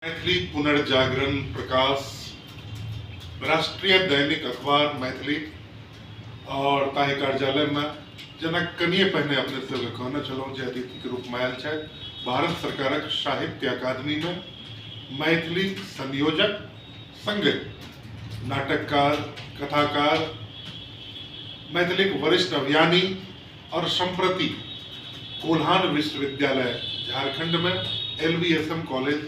मैथिली पुनर्जागरण प्रकाश राष्ट्रीय दैनिक अखबार मैथिली और ताहि कार्यालय में जेना कनिए पहिने अपने सब कहने छलहुँ जे अतिथि के रूप में आयल छथि भारत सरकारक साहित्य अकादमी में मैथिली संयोजक संगे नाटककार कथाकार मैथिली वरिष्ठ अभियानी और सम्प्रति कोल्हान विश्वविद्यालय झारखंड में एलवीएसएम कॉलेज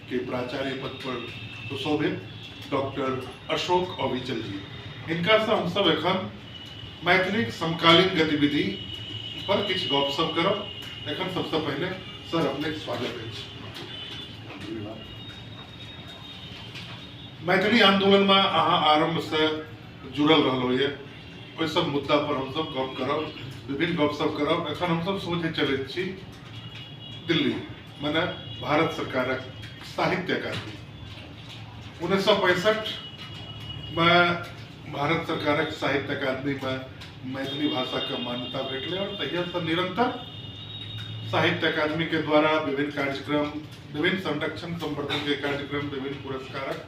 के प्राचार्य पद पर सुशोभित डॉक्टर अशोक अविचल जी इनका से हम सब एखन मैथिली समकालीन गतिविधि पर किछु गपशप करब एखन सबसे पहले सर अपने के स्वागत अछि मैथिली आंदोलन में अहाँ आरंभ से जुड़ल रहलो ये ओहि सब मुद्दा पर हम सब गप करब विभिन्न गप सब करब एखन हम सब सोझे चलैत छी दिल्ली मने भारत सरकारक साहित्य अकादमी उन्नैस सए पैंसठ मे भारत सरकारक साहित्य अकादमी मे मैथिली भाषा के मान्यता भेटले और तहिया से निरंतर साहित्य अकादमी के द्वारा विभिन्न कार्यक्रम विभिन्न संरक्षण संवर्धन के कार्यक्रम विभिन्न पुरस्कारक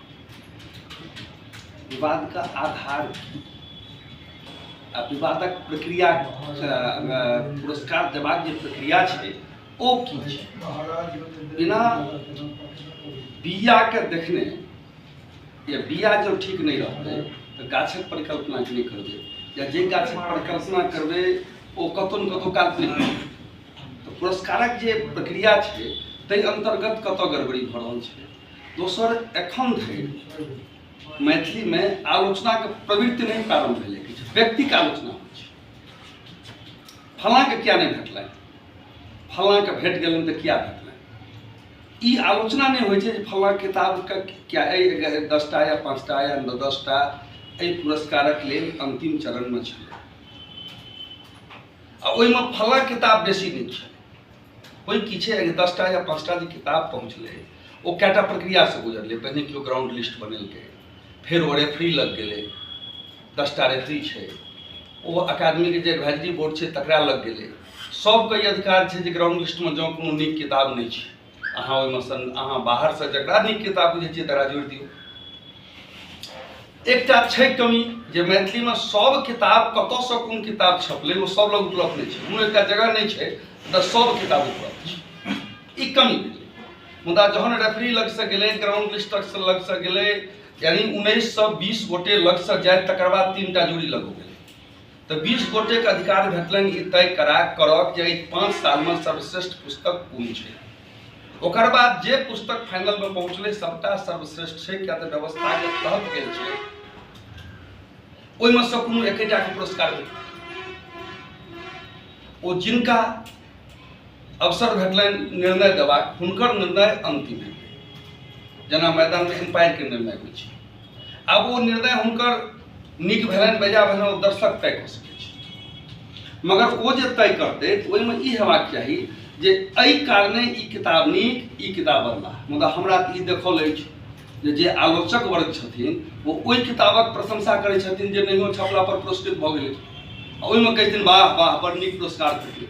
विवादक आधार आ विवादक प्रक्रिया पुरस्कार देबाक जे प्रक्रिया छै ओ की छै बिना बीयाके देखने या बीया जब ठीक नहीं रहते तो गाछक परिकल्पना नहीं करबे या जे गाछक परिकल्पना करबे ओ कतौ ने कतौ काल तो पुरस्कारक जे प्रक्रिया है तै अंतर्गत कत गड़बड़ी भ रहल है दोसर एखन धरि मैथिलीमे आलोचनाके प्रवृत्ति नहि प्रारम्भ भेलै किछु व्यक्तिके आलोचना होइ छै फलाँके किया नहि भेटलनि फलाँके भेट गेलनि तऽ किया भेटलनि ई आलोचना नहि होइ छै जे फलाँ किताबके किया एहि दसटा या पाँचटा या दसटा एहि पुरस्कारक लेल अन्तिम चरणमे छलै आ ओहिमे फलाँ किताब बेसी नहि छलै कोई किछे अगर दस टा या पाँच टा जे किताब पहुँचलै ओ कएटा प्रक्रियासँ गुजरलै पहिने केओ ग्राउंड लिस्ट बनेलकै फेर ओ रेफरी लग गेलै दस टा रेफरी छै ओ अकादमीके जे एडवाइजरी बोर्ड छै तकरा लग गेलै सभके ई अधिकार छै जे ग्राउंड लिस्टमे जँ कोनो नीक किताब नहि छै अहाँ ओहिमे सन अहाँ बाहरसँ जकरा नीक किताब बुझै छियै तकरा जोड़ि दियौ एकटा छै कमी जे मैथिलीमे सब किताब कतऽसँ कोन किताब छपलै ओ सब लग उपलब्ध नहि छै कोनो एकटा जगह नहि छै जतऽ सब किताब उपलब्ध छै ई कमी मुदा जहन रेफरी लगसँ गेलै ग्राउंड लिस्ट लगसँ लगसँ गेलै यानी उन्नैस सए बीस गोटे लगसँ जाय तकर बाद तीन टा जोड़ी लग गेलै तऽ बीस गोटेके अधिकार भेटलनि ई तय करा करब जे एहि पाँच सालमे सर्वश्रेष्ठ पुस्तक कोन छै ओकर बाद जे पुस्तक फाइनल में पहुंचले सबटा सर्वश्रेष्ठ छै क्या तऽ व्यवस्था के तहत गेल छै ओहिमे से कोनो एकेटा के पुरस्कार ओ जिनका अवसर भेटलनि निर्णय देबाक हुनकर निर्णय अंतिम है जेना मैदान में एम्पायर के निर्णय होइ छै आब ओ निर्णय हुनकर नीक भेलनि बेजा भेलनि ओ दर्शक तय कऽ सकैत छथि मगर ओ जे तय करतै तऽ ओहिमे ई हेबाक चाही जे एहि कारणे ई किताब नीक ई किताब बदला मुदा हमरा तऽ ई देखल अछि जे जे आलोचक वर्ग छथिन ओ ओहि किताबक प्रशंसा करै छथिन जे नहियो छपला पर पुरस्कृत भऽ गेलै आ ओहिमे कहै छथिन वाह वाह बड़ नीक पुरस्कार भेटलै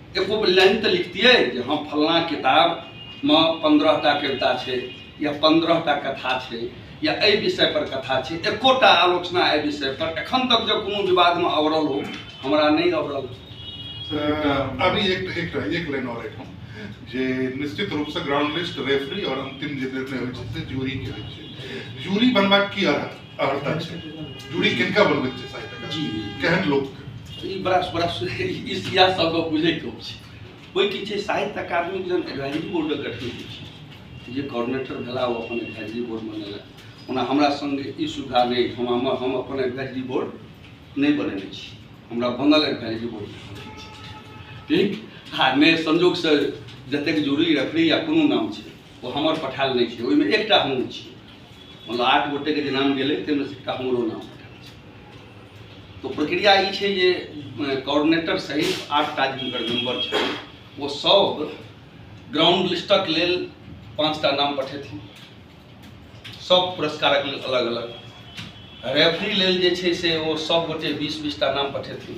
एगो लाइन तऽ लिखतियै जे हम फलना किताबमे पंद्रह टा कविता छै या पंद्रह टा कथा छै या एहि विषय पर कथा छै एकोटा आलोचना एहि विषय पर एखन तक जब कोनो विवाद में अवरल हो हमरा नहीं अवरल अभी एक एक एक लाइन और एक जे निश्चित रूप से ग्राउंड लिस्ट रेफरी और अंतिम जे निर्णय होइ छै से जूरी के होइ छै जूरी बनबाक की अर्थ अर्हता छै दूरी किनका बनबैत छै साहित्यकार जी केहन लोक ई बड़ा बड़ा ई सिया सबके बुझै के छै कोई की छै साहित्य अकादमी जन एडवाइजरी बोर्ड गठन होइ छै जे कोऑर्डिनेटर भेला ओ अपन एडवाइजरी बोर्ड बनेला ओना हमरा संग ई सुविधा नहि हम हम हम अपन एडवाइजरी बोर्ड नहि बनेने छी हमरा बनल एडवाइजरी बोर्ड ठीक आ नहि संजोगसँ जतेक जूरी रेफरी या कोनो नाम छै ओ हमर पठायल नहि छै ओहिमे एकटा हमहूँ छी मतलब आठ गोटे के जे नाम गेलै ताहिमे से एकटा हमरो नाम पठायल छै। तो प्रक्रिया ई छै जे कोऑर्डिनेटर सहित आठ टा जिनकर मेंबर छै ओ सब ग्राउंड लिस्टक लेल पाँच टा नाम पठेथिन सब पुरस्कारक लेल अलग अलग रेफरी लेल जे छै से ओ सब गोटे बीस बीस टा नाम पठेथिन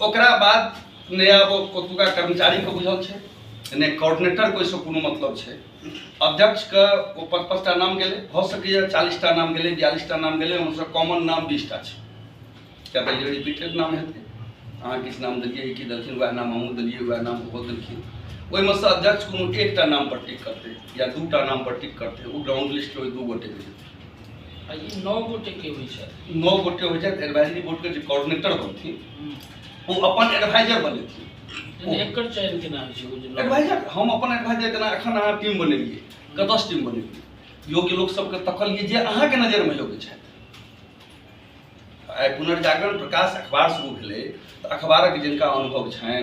ओकरा बाद ने अब ओतुका कर्मचारीके बुझल छै ने कोऑर्डिनेटरके ओहिसँ कोनो मतलब छै अध्यक्षके ओ पाँच पाँच टा नाम गेलै भऽ सकैए चालीस टा नाम गेलै बियालीस टा नाम गेलै ओहिसँ कॉमन नाम बीस टा छै किया तऽ ई रिपीटेड नाम हेतै अहाँ किछु नाम देलियै ई की देलखिन उएह नाम हमहूँ देलियै उएह नाम ओहो देलखिन ओहिमे सँ अध्यक्ष कोनो एकटा नामपर टिक करतै या दू टा नामपर टिक करतै ओ ग्राउंड लिस्टके ओहि दू गोटेके जेतै ई नौ गोटे के होइ छै नौ गोटे होइ छै एडवाइजरी बोर्ड के जे कोऑर्डिनेटर बनथि ओ अपन एडवाइजर बनेथि यानी एकर चयन केना होइ छै ओ जे नौ- एडवाइजर हम अपन एडवाइजर जेना एखन अहाँ टीम बनेलियै कतयसँ टीम बनेलियै योग्य लोक सबके तकलियै जे अहाँके नजरमे योग्य छथि आइ पुनर्जागरण प्रकाश अखबार शुरू भेलै तऽ अखबारक जिनका अनुभव छनि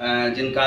अ, जिनका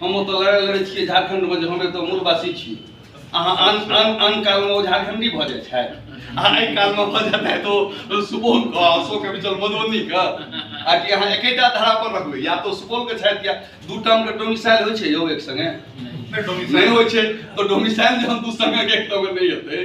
हम ओतऽ लड़ाइ लड़ै छियै झारखण्डमे जे हम एतऽ मूलवासी छी अहाँ आन आन आन कालमे ओ झारखण्डी भऽ जाइ छथि आ एहि कालमे भऽ जेतै तऽ ओ सुपौलके आ अशोक विचल मधुबनीके आ कि अहाँ एकेटा धारा पर रखबै या तऽ सुपौलके छथि या दू टर्मके डोमिसाइल होइ छै यौ एक सङ्गे नहि होइ छै तऽ डोमिसाइल जहन दू सङ्गे एक टर्ममे नहि हेतै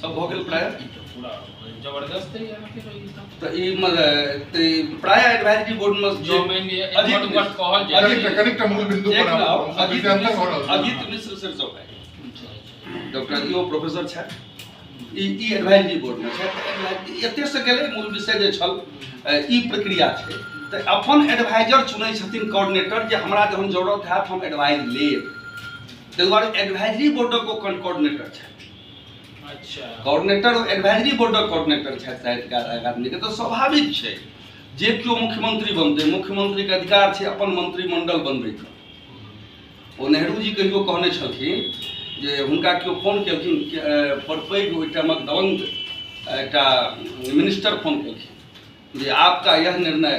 सब भऽ गेल प्राय जबरदस्त तऽ ई तऽ प्राय एडवाइजरी बोर्ड मे जो मानि अजीत पर कहल जाय अजीत कनेक्ट मूल बिंदु पर अजीत अजीत मिश्र सर सब है डॉक्टर यो प्रोफेसर छै ई ई एडवाइजरी बोर्ड मे छै एते से गेलै मूल विषय जे छल ई प्रक्रिया छै तऽ अपन एडवाइजर चुनै छथिन कोऑर्डिनेटर जे हमरा जहन जरूरत हैत हम एडवाइज लेब ताहि दुआरे एडवाइजरी बोर्डक ओ कोऑर्डिनेटर छथि अच्छा कोऑर्डिनेटर एडवाइजरी बोर्डक कोऑर्डिनेटर छथि साहित्यकार एक आदमीके तऽ स्वाभाविक छै जे केओ मुख्यमंत्री बनतै मुख्यमंत्रीके अधिकार छै अपन मंत्रिमंडल बनबैके ओ नेहरूजी कहियो कहने छलखिन जे हुनका केओ फोन केलखिन के- अ, बड़ पैघ ओहि टाइमक दबंग एकटा मिनिस्टर फोन केलखिन जे आपका यह निर्णय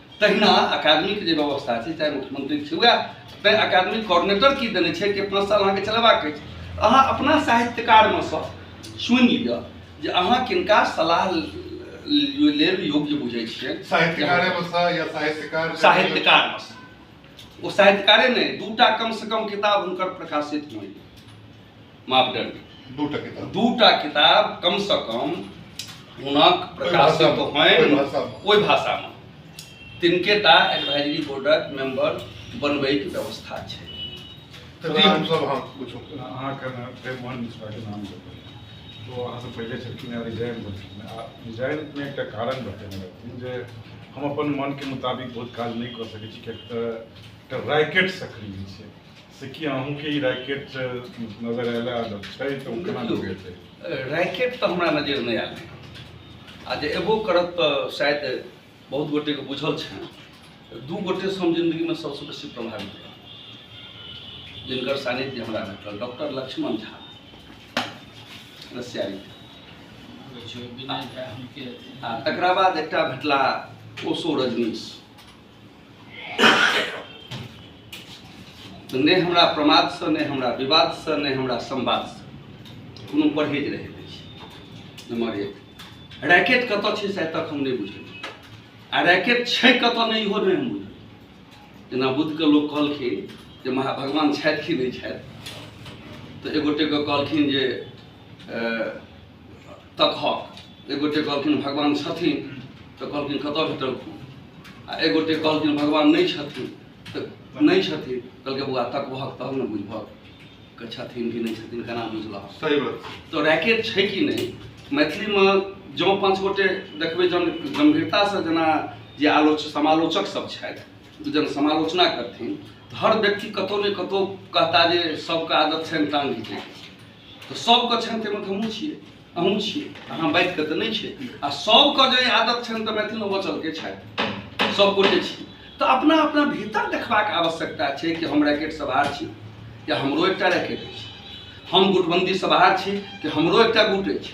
तहिना अकादमीके जे व्यवस्था छै चाहे मुख्यमंत्री छै वएह तैँ अकादमी कोऑर्डिनेटर की देने छै कि पाँच साल अहाँके चलेबाक अछि अहाँ अपना साहित्यकारमे सँ सुनि लिअ जे अहाँ किनका सलाह ल- लेल योग्य बुझै छियै साहित्यकारे में सा या साहित्यकार साहित्यकार ओ साहित्यकारे नहि दूटा कम से कम किताब हुनकर प्रकाशित हुए मापदंड दूटा किताब दूटा किताब कम से कम हुनक प्रकाशित होनि ओहि भाषामे तिनके टा एडवाइजरी बोर्डक मेंबर बनबैके व्यवस्था छै हम अपन मनके मुताबिक बहुत काज नहि कऽ सकैत छी किएक तऽ रैकेट सक्रिय छै से की अहूँ के रैकेट नजर आयला छै तऽ ओ केना लगे छै रैकेट तऽ हमरा नजर नहि आयल आ जे एबो करत तऽ शायद बहुत गोटे के बुझल छै दू गोटे से हम जिंदगी में सबसे बेसी प्रभावित रह जिनकर सानिध्य हमरा भेटल डॉक्टर लक्ष्मण झा रसियारी आ तकरा बाद एकटा भेटला ओसो रजनीश तऽ नहि हमरा प्रमादसँ नहि हमरा विवादसँ नहि हमरा संवादसँ कोनो परहेज रहै नहि छै नम्बर एक रैकेट कतऽ छै से आइ तक हम नहि बुझलियै आ रैकेट छै कतऽ नहि इहो नहि हम बुझलियै जेना बुद्धके लोक कहलखिन जे महा भगवान छथि कि नहि छथि तऽ एगोटेके कहलखिन जे अ, तक हक एक गोटे कहलखिन भगवान छथिन तऽ कहलखिन कतऽ भेटलखिन आ एक गोटे कहलखिन भगवान नहि छथिन तऽ नहि छथिन कहलकै बौआ तकबहक तब ने बुझबहक के छथिन कि नहि छथिन केना बुझलहक सही बात तो रैकेट छै कि नहि मैथिलीमे जँ पाँच गोटे देखबै जन गम्भीरतासँ जेना जे आलोच समालोचक सब छथि जन समालोचना करथिन तऽ हर व्यक्ति कतौ ने कतौ कहता जे सबके आदत छनि टांग घिचैके तऽ सभके छनि ताहिमे तऽ हमहूँ छियै अहूँ छियै अहाँ बाजि कऽ तऽ नहि छै आ सभके जे आदत छनि तऽ मैथिलमे बचलके छथि सभगोटे छी तऽ अपना अपना भीतर देखबाक आवश्यकता छै कि हम रैकेट सवार छी या हमरो एकटा रैकेट अछि हम गुटबन्दीसँ बाहर छी कि हमरो एकटा गुट अछि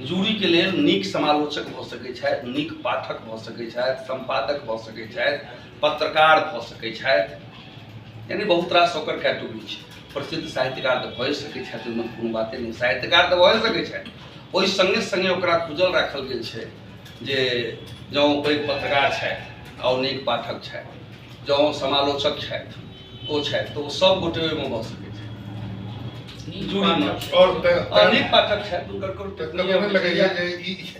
जूरीके लेल नीक समालोचक भऽ सकै छथि नीक पाठक भऽ सकै छथि सम्पादक भऽ सकै छथि पत्रकार भऽ सकै छथि यानि बहुत रास ओकर कैटेगरी छै प्रसिद्ध साहित्यकार तऽ भए सकै छथि ओहिमे कोनो बाते नहि साहित्यकार तऽ भए सकै छथि ओहि सङ्गे सङ्गे ओकरा खुजल राखल गेल छै जे जँ ओ पैघ पत्रकार छथि आओर नीक पाठक छथि जँ ओ समालोचक छथि ओ छथि तऽ ओ सब गोटे ओहिमे भऽ सकै छै अनेक पाठक छथि हुनकर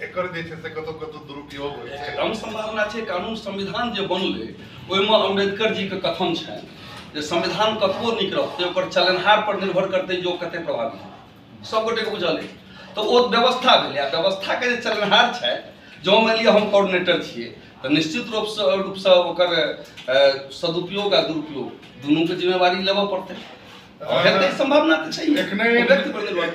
एकर जे छै से कतौ कतौ दुरुपयोग होइ छै कम संभावना छै कानून संविधान जे बनलै ओहिमे अम्बेडकर जी के कथन छनि जे संविधान कतबो नीक रहतै ओकर चलनहार पर निर्भर करतै जे ओ कते प्रभावी सब गोटे के बुझल अछि तऽ ओ व्यवस्था भेलै आ व्यवस्था के जे चलनहार छै जो मानि लिअ हम कोऑर्डिनेटर छियै तऽ निश्चित रूप से रूप से ओकर सदुपयोग आ दुरुपयोग दुनू के जिम्मेवारी लेबऽ पड़तै संभावना तऽ छै एखने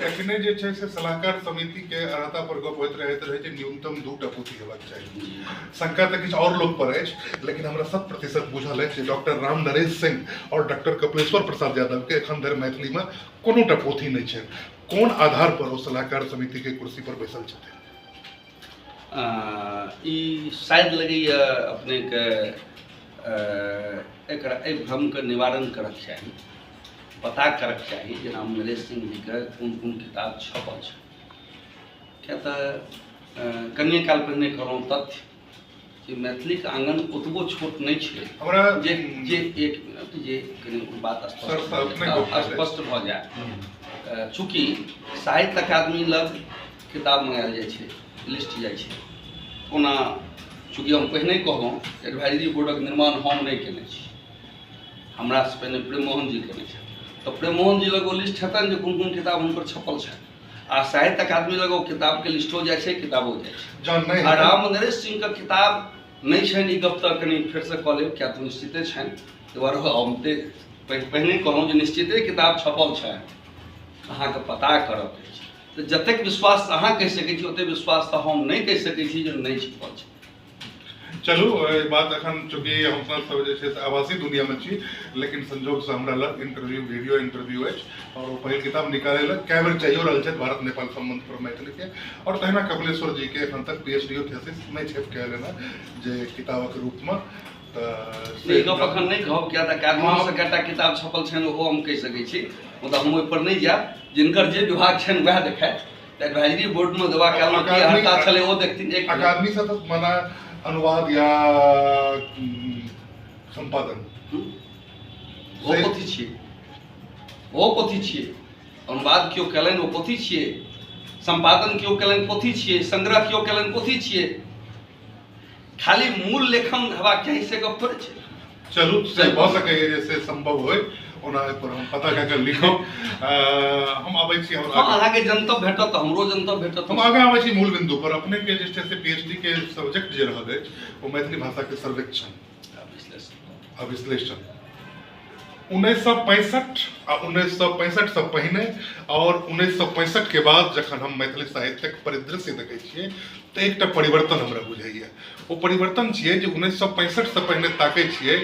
एखने जे छै से सलाहकार समिति के अर्हता पर गप होइत रहैत रहै जे न्यूनतम दू टा पोथी हेबाक चाही शंका तऽ किछु और लोग पर अछि लेकिन हमरा शत प्रतिशत बुझल अछि डॉक्टर राम नरेश सिंह और डॉक्टर कपिलेश्वर प्रसाद यादव के एखन धरि मैथिली में कोनो टा पोथी नहि छै कोन आधार पर ओ सलाहकार समिति के कुर्सी पर बैसल छथिन ई शायद लगैए अपनेके एकरा एहि भ्रमके निवारण करक चाही पता करक चाही जेना नरेश सिंह जीके कोन कोन किताब छपल छै किए तऽ कनिए काल पहिने कहलहुँ तथ्य जे मैथिलीक आंगन ओतबो छोट नहि छै हमरा जे जे एक मिनट जे कनि बात स्पष्ट भऽ जाए चूँकि साहित्य अकादमी लग किताब मंगायल जाइ छै लिस्ट जाइ छै ओना चूँकि हम पहिने कहलहुँ एडवाइजरी बोर्डक निर्माण हम नहि केने छी हमरासँ पहिने प्रेममोहन जी केने छथि तऽ प्रेममोहन जी लग ओ लिस्ट हेतनि जे कोन कोन किताब हुनकर छपल छनि आ साहित्य अकादमी लग ओ किताबके लिस्टो जाइ छै किताबो जाइ छै जहन नहि आ हेतै- राम नरेश सिंहके किताब नहि छनि ई गप तऽ कनि फेरसँ कऽ लेब किया तऽ निश्चिते छनि ताहि दुआरे हम ते पहि- पहिने कहलहुँ जे निश्चिते किताब छपल छनि अहाँके पता करऽ के अछि तऽ जतेक विश्वास अहाँ कहि सकै छी ओतेक विश्वास तऽ हम नहि कहि सकै छी जे नहि छपल छै चलू एहि बात एखन चूँकि हमसभ सब जे छै से आवासी दुनियामे छी लेकिन संजोगसँ हमरा लग इंटरव्यू वीडियो इंटरव्यू अछि आओर ओ पहिल किताब निकालै लए कए बेर चाहियो रहल छथि भारत नेपाल संबंध पर मैथिलीके आओर तहिना कपिलेश्वर जीके एखन तक पी एच डी थेसिस नहि छपि कए एलनि हेँ जे किताबक रूपमे तऽ ई गप एखन नहि कहब किया तऽ काजमासँ कएटा किताब छपल छनि ओहो हम कहि सकै छी मुदा हम ओहिपर नहि जायब जिनकर जे विभाग छनि वएह देखायत एडवाइजरी बोर्ड में दवा क्या लोग की हड़ता चले वो देखती एक अकादमी से तो मना अनुवाद या संपादन वो कथी छिए वो कथी छिए अनुवाद क्यों कलन वो कथी छिए संपादन क्यों कलन कथी छिए संग्रह क्यों कलन कथी छिए खाली मूल लेखन हेबाक चाही से गप थोड़े छै चलू से भऽ सकैए जे से संभव होय ओना एहिपर हम पता कए कऽ लिखब अ, हम अबै छी हम हमरा अहाँके जनतब भेटत तऽ हमरो जनतब भेटत हम आगाँ अबै छी मूल बिंदु पर अपने के जे छै से पीएचडी के सब्जेक्ट जे रहल अछि ओ मैथिली भाषा के सर्वेक्षण आ विश्लेषण उन्नैस सए पैंसठ आ उन्नैस सए पैंसठ से पहिने और उन्नैस सए पैंसठ के बाद जखन हम मैथिली साहित्यक परिदृश्य देखे छियै तऽ एकटा परिवर्तन हमरा बुझाइए ओ परिवर्तन छियै जे उन्नैस सए पैंसठ से पहिने ताकै छियै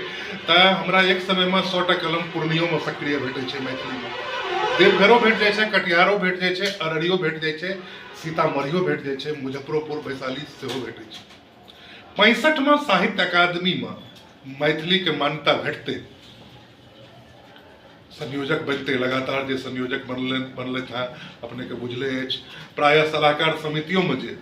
तऽ हमरा एक समय में सौ टा कलम पूर्णियोमे सक्रिय भेटै छै मैथिलीमे देवघरो भेट जाइ छै कटिहारो भेट जाइ छै अररियो भेट जाइ छै सीतामढ़ियो भेट जाइ छै मुजफ्फरोपुर वैशाली सेहो भेटै छै पैंसठमा साहित्य अकादमीमे मैथिलीके मान्यता भेटतै संयोजक बनते लगातार जे संयोजक बनल बनलथि हेँ अपनेके बुझले अछि प्रायः सलाहकार समितियोमे जे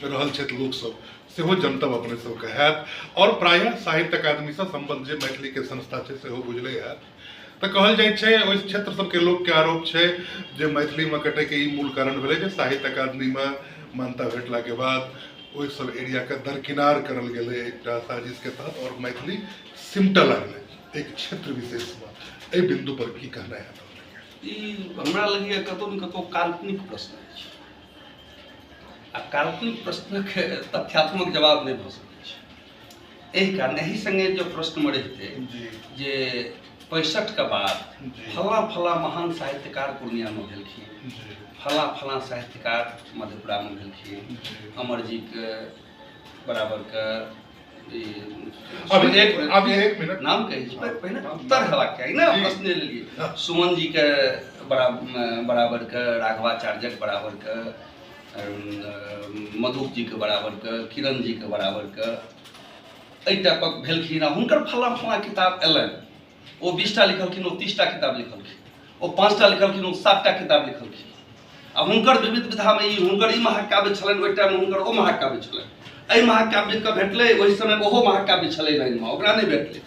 रहल छथि लोकसभ सेहो जनतब अपने सभके हैत आओर प्रायः साहित्य अकादमीसँ सम्बन्ध जे मैथिलीके संस्था छै सेहो बुझले हैत तऽ कहल जाइत छै ओहि क्षेत्र सबके लोकके आरोप छै जे मैथिलीमे कटैके ई मूल कारण भेलै जे साहित्य अकादमीमे मान्यता भेटलाके बाद ओहि सब एरियाके दरकिनार करल गेलै एकटा साजिशके तहत आओर मैथिली सिमटऽ लागलै एक क्षेत्र विशेषमे एहि बिन्दु पर की कहना है ई हमरा लगैए कतौ ने कतौ काल्पनिक प्रश्न अछि आ काल्पनिक प्रश्नके तथ्यात्मक जवाब नहि भऽ सकैत छै एहि कारण एहि संगे जो प्रश्न में रहते जी जे पैंसठ के बाद जी। फला फला महान साहित्यकार पूर्णिया में भेलखिन जी फला फला साहित्यकार मधेपुरा में भेलखिन जी। अमर जी के बराबर के ई अभी सुमन- एक अभी एक मिनट नाम कही छी, पर पहिने उत्तर हेबाक चाही ने जी। प्रश्न लेलियै सुमन जी के बराबर बराबर के राघवाचार्यक बराबर के मधुक जीके बराबरके किरण जीके बराबरके एहि टाइपक भेलखिन आ हुनकर फला फला किताब अयलनि ओ बीसटा लिखलखिन ओ तीसटा किताब लिखलखिन ओ पाँचटा लिखलखिन ओ सातटा किताब लिखलखिन आ हुनकर विविध विधामे ई हुनकर ई महाकाव्य छलनि ओहि टाइममे हुनकर ओ महाकाव्य छलनि एहि महाकाव्यके भेटलै ओहि समय ओहो महाकाव्य छलै लाइनमे ओकरा नहि भेटलै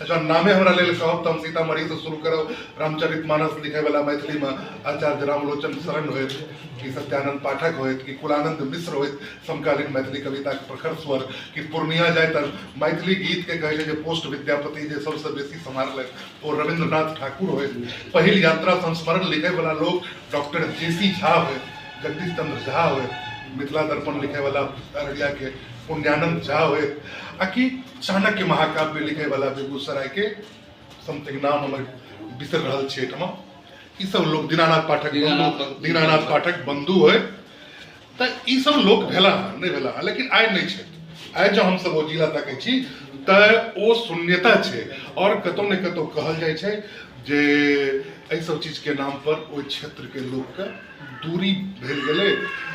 अच्छा नामे हमरा लेल कहब तऽ हम सीतामढ़ी से शुरू करब रामचरित मानस लिखे वाला मैथिली में आचार्य रामलोचन शरण हो कि सत्यानंद पाठक हो कि कुलानंद मिश्र हो समकालीन मैथिली कविता के प्रखर स्वर कि पूर्णिया जाए तर मैथिली गीत के कहले जे पोस्ट विद्यापति जे सबसे बेसी संभाल वो रविन्द्रनाथ ठाकुर हो पहल यात्रा संस्मरण लिखे वाला लोग डॉक्टर जे सी झा हो जगदीश चंद्र झा हो मिथिला दर्पण लिखे वाला अररिया के पुण्यानंद झा हो आ कि चाणक्य महाकाव्य लिखे वाला बेगूसराय के समथिंग नाम हमर बिसर रहल छै एहिठाम ई सब लोग दीनानाथ पाठक दीनानाथ बंधु बंधु। दीनानाथ पाठक बंधु है तऽ ई सब लोग भेला हँ नहि भेला हँ लेकिन आइ नहि छै आइ जँ हमसब ओ जिला तकै छी तऽ ओ शून्यता छै आओर कतौ ने कतौ कहल जाइ छै जे एहि सब चीजके नाम पर ओहि क्षेत्रके लोकके दूरी भेल गेलै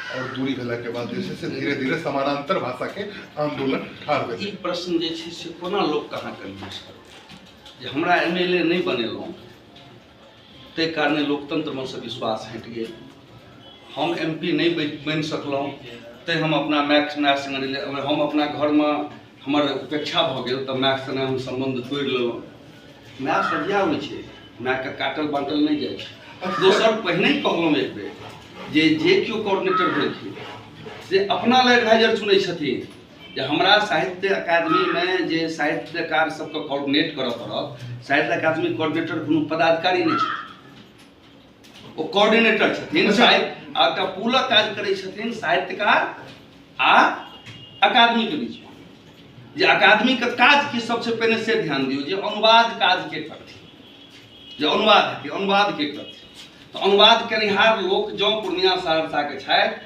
आओर दूरी भेलाके बाद जे छै से धीरे धीरे समानांतर भाषाके आंदोलन ठाढ़ भेल ई प्रश्न जे छै से कोना लोक कहाँ कन्फ्यूज करतै जे हमरा एम एल ए नहि बनेलहुँ ताहि कारणे लोकतंत्रमे से विश्वास हटि गेल हम एम पी नहि बनि सकलहुँ तैँ हम अपना मायके माय सङ्गे हम अपना घरमे हमर उपेक्षा भऽ गेल तऽ मायके सङ्गे हम सम्बन्ध तोड़ि लेलहुँ माय सदिया होइ छै मायके काटल बाँटल नहि जाइ छै दोसर पहिने कहलहुँ एक बेर जे जे केओ कोऑर्डिनेटर भेलखिन से अपना लए एडवाइजर चुनै छथिन जे हमरा साहित्य अकादमीमे जे साहित्यकार सबके कोऑर्डिनेट करऽ पड़त साहित्य अकादमी कोऑर्डिनेटर कोनो पदाधिकारी नहि छथिन ओ कोऑर्डिनेटर छथिन अच्छा। साहित्य आ एकटा पूलक काज करै छथिन साहित्यकार आ अकादमी के बीच में। जे अकादमी के काज की सबसे पहिने से ध्यान दियौ जे अनुवाद काज के करथिन जे अनुवाद हेतै अनुवाद के करथिन तऽ अनुवाद केनिहार लोक जँ पूर्णिया सहरसा के छथि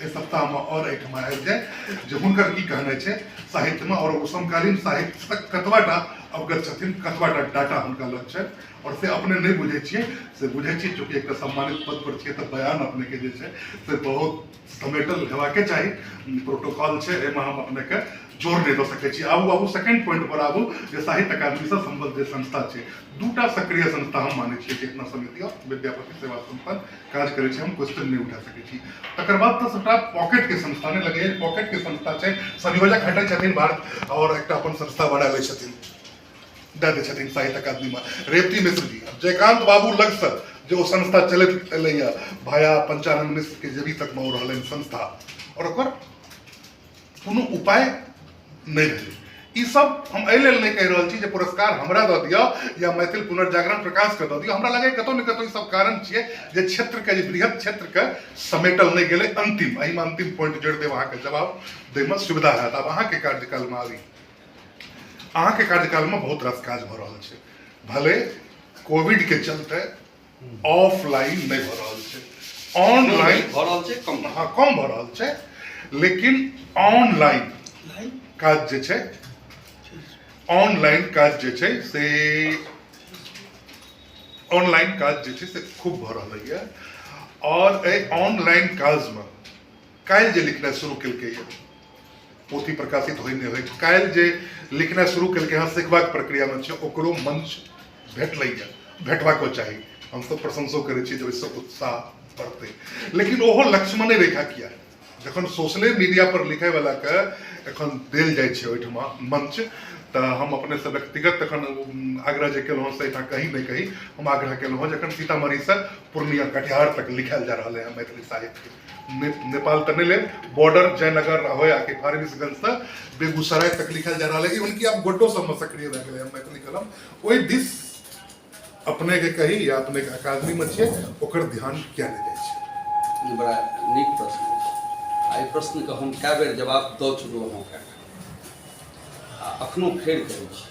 एहि सप्ताहमे आओर एहिठमा आबि जाय जे हुनकर की कहने छै साहित्यमे आओर ओ समकालीन साहित्यक कतबाटा अवगत छथिन कतबाटा डाटा हुनका लग छनि आओर से अपने नहि बुझै छियै से बुझै छियै चूँकि एकटा सम्मानित पद पर छियै तऽ बयान अपनेके जे छै से बहुत समेटल हेबाके चाही प्रोटोकॉल छै एहिमे हम अपनेके जोर नहि दऽ सकै छी आबू आबू सेकेंड पॉइंट पर आबू जे साहित्य अकादमीसँ सम्बद्ध जे संस्था छै दूटा सक्रिय संस्था हम मानै छियै चेतना समिति आओर विद्यापति सेवा संस्थान काज करै छै हम क्वेश्चन नहि उठा सकै छी तकर बाद तऽ सबटा पॉकेट के संस्था ने लगे पॉकेट के संस्था छै संयोजक हटै छथिन भारत और एकटा अपन संस्था बढ़ा लै छथिन दए दै छथिन साहित्य अकादमी में रेवती मिश्र जी जयकांत बाबू लग से जे ओ संस्था चलैत एलैए भाया पंचानंद मिश्र के जे भी तक में ओ रहलनि संस्था और ओकर कोनो उपाय नहि भेल ई सब हम एहि लेल नहि कहि रहल छी जे पुरस्कार हमरा दऽ दिअ या मैथिल पुनर्जागरण प्रकाशके दऽ दिअ हमरा लगैए कतहु ने कतहु ई सब कारण छियै जे क्षेत्रके जे बृहत क्षेत्रके समेटल नहि गेलै अन्तिम एहिमे अन्तिम पॉइंट जोड़ि देब अहाँके जवाब दैमे सुविधा हैत आब अहाँके कार्यकालमे आबी अहाँके कार्यकालमे बहुत रास काज भऽ रहल छै भले कोविडके चलते ऑफलाइन नहि भऽ रहल छै ऑनलाइन भऽ रहल छै कम हँ कम भऽ रहल छै लेकिन ऑनलाइन काज जे छै ऑनलाइन काज जे छै से ऑनलाइन काज जे छै से खूब भऽ रहलैए आओर एहि ऑनलाइन काजमे काल्हि जे लिखनाइ शुरू केलकै यऽ पोथी प्रकाशित होइ नहि होइ काल्हि जे लिखनाइ शुरू केलकै हँ सिखबाक प्रक्रियामे छै ओकरो मंच भेटलैए भेटबाको चाही हमसभ प्रशंसो करै छी जे ओहिसँ उत्साह बढ़तै लेकिन ओहो लक्ष्मणे रेखा किया जखन सोशले मीडिया पर लिखे वाला के एखन देल जाइ छै ओहिठाम मंच तऽ हम अपने से व्यक्तिगत तखन आग्रह जे केलहुँ से एहिठाम कहीं नहि कहीं हम आग्रह केलहुँ हँ जखन सीतामढ़ीसँ पूर्णिया कटिहार तक लिखायल जा रहलै हँ मैथिली साहित्य नेपाल तमिल बॉर्डर जयनगर रहोया के फारबिसगंज से बेगूसराय तक लिखल जा रहा है कि उनकी आप गोड्डो सब में सक्रिय रह गए मैथिली कलम वही दिस अपने के कही या अपने के अकादमी में छे ओकर ध्यान क्या देने छे बड़ा नीक प्रश्न आई प्रश्न के हम कए बेर जवाब दऽ चुकलहुँ हँ अखनो फेर करै छी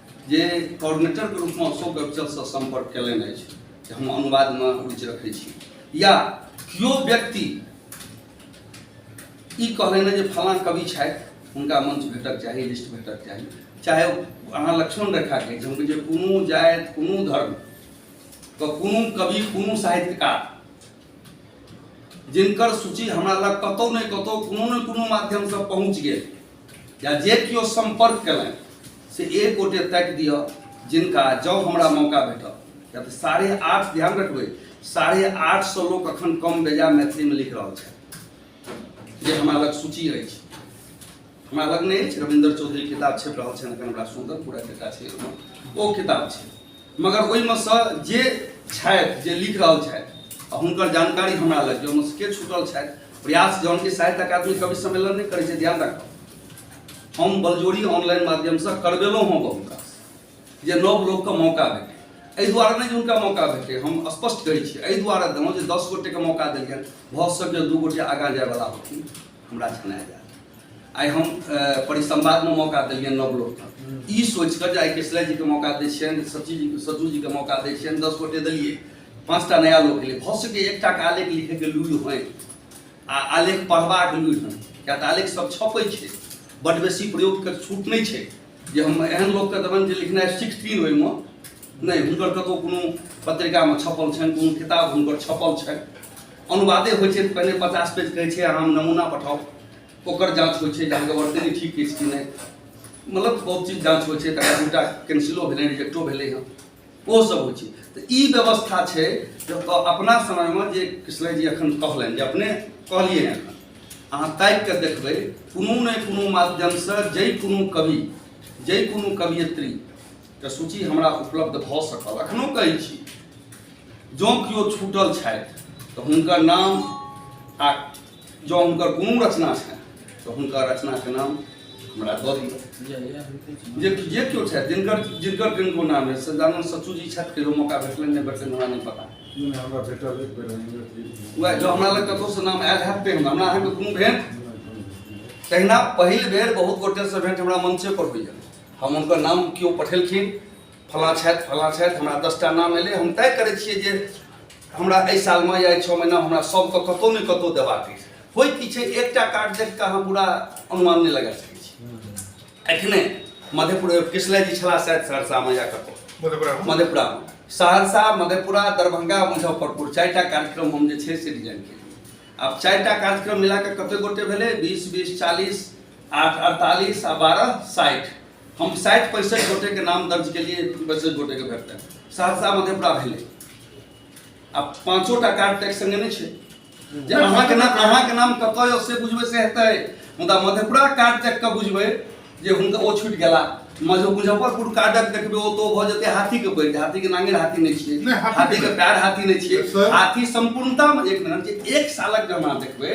जे कोऑर्डिनेटरके रूपमे अशोक अफजलसँ सम्पर्क कयलनि अछि जे हम अनुवादमे रुचि रखै छी या केओ व्यक्ति ई कहलनि जे फलाँ कवि छथि हुनका मंच भेटक चाही लिस्ट भेटक चाही चाहे अहाँ लक्ष्मण रेखाके जे हुनके जे कोनो जाति कोनो धर्म व कोनो कवि कोनो साहित्यकार जिनकर सूची हमरा लग कतौ ने कतौ कोनो ने कोनो माध्यमसँ पहुँच गेल या जे केओ सम्पर्क कयलनि से एक गोटे ताकि दिअ जिनका जँ हमरा मौका भेटल किया तऽ साढ़े आठ ध्यान रखबै साढ़े आठ सौ लोग अखन कम बेजा मैथिली में लिख रहा है जे हमरा लग सूची अछि हमरा लग नहि अछि रविन्द्र चौधरी किताब छपि रहल छनि अखन हमरा सुन्दर पूरा डेटा छै ओ किताब छै मगर ओहिमे सँ जे छथि जे लिख रहल छथि आ हुनकर जानकारी हमरा लग जे ओहिमे के छूटल छथि प्रयास जौन कि साहित्य अकादमी कवि सम्मेलन नहि करै छै ध्यान राखब हम बलजोरी ऑनलाइन माध्यमसँ करबेलहुँ हँ बहुत रास जे नव लोकके मौका भेटै एहि दुआरे नहि जे हुनका मौका भेटै हम स्पष्ट करै छी एहि दुआरे देलहुँ जे दस गोटेके मौका देलियनि भऽ सकैए दू गोटे आगाँ जायवला होथिन हमरा छना जाए आइ हम परिसंवादमे मौका देलियनि नव लोकके हम्म। ई सोचिकऽ जे आइ कृष्णा जीके मौका दै छियनि सची जी सज्जू जीके मौका दै छियनि दस गोटे देलियै पाँचटा नया लोक एलै भऽ सकै एकटाके आलेख लिखैके लूरि होइ आ आलेख पढ़बाक लूरि होइ किया तऽ आलेख सब छपै छै बड बेसी प्रयोगके छूट नहि छै जे हम एहन लोकके देबनि जे लिखनाइ सीखथिन ओहिमे नहि हुनकर कतहु कोनो पत्रिकामे छपल छनि कोनो किताब हुनकर छपल छनि अनुवादे होइ छै पहिने पचास पेज कहै छै अहाँ नमूना पठाउ ओकर जाँच होइ छै जे अहाँके वर्तनी ठीक अछि कि नहि मतलब बहुत चीज जाँच होइ छै तकर दूटा कैंसिलो भेलै रिजेक्टो भेलै हँ ओहोसभ होइ छै तऽ ई व्यवस्था छै जे अपना समयमे जे कृष्ण जी एखन कहलनि जे अपने कहलियै एखन अहाँ ताकि कऽ देखबै कोनो ने कोनो माध्यमसँ जाहि कोनो कवि जाहि कोनो कवियत्री के सूची हमरा उपलब्ध भऽ सकल अखनो कहै छी जँ केओ छूटल छथि तऽ हुनकर नाम आ जँ हुनकर कोनो रचना छनि तऽ हुनकर रचनाके नाम हमरा दऽ दिअ जे जे केओ छथि जिनकर जिनकर किनको नाम अछि सदानन्द सचू जी छथि कहियो मौका भेटलनि नहि भेटलनि हमरा नहि पता हमरा भेटल एक बेर हमरा प्लीज। वएह जँ हमरा लग कतहुसँ नाम आयल हैत तेहन हमरा अहाँके कोनो भेट तहिना पहिल बेर बहुत गोटेसँ भेंट हमरा मंचे पर होइए हम हुनकर नाम केओ पठेलखिन फलाँ छथि फलाँ छथि हमरा दसटा नाम एलै हम तय करै छियै जे हमरा एहि सालमे या छओ महीना हमरा सभके कतहु ने कतहु देबाक अछि होइ की छै एकटा कार्ड देख कऽ अहाँ पूरा अनुमान नहि लगा सकै छी एखने मधेपुर कृष्णा जी छलाह शायद सहरसामे या कतहु मधेपुरा सहरसा मधेपुरा दरभंगा मुजफ्फरपुर चारिटा कार्यक्रम हम जे छै से डिजाइन केलियै आब चारिटा कार्यक्रम मिला कऽ कतेक गोटे भेलै बीस बीस चालीस आठ अड़तालीस आ बारह साठि हम साठि पैंसठि गोटेके नाम दर्ज केलियै पैंसठि गोटेके भेटतै सहरसा मधेपुरा भेलै आ पाँचोटा कार्ड टैक्स संगे नहि छै जे अहाँके नाम अहाँके नाम कतऽ यऽ से बुझबै से हेतै मुदा मधेपुरा कार्ड तक कऽ बुझबै जे हुनका ओ छुटि गेला मज- मुजफ्फरपुर कार्डक देखबै ओ तो भऽ जेतै हाथीके पैर हाथीके नांगे हाथी नहि छियै नहि, हाथीके हाथीके पैर। पैर हाथी नहि छियै सर। हाथी सम्पूर्णतामे एक मिनट जे एक सालक जब अहाँ देखबै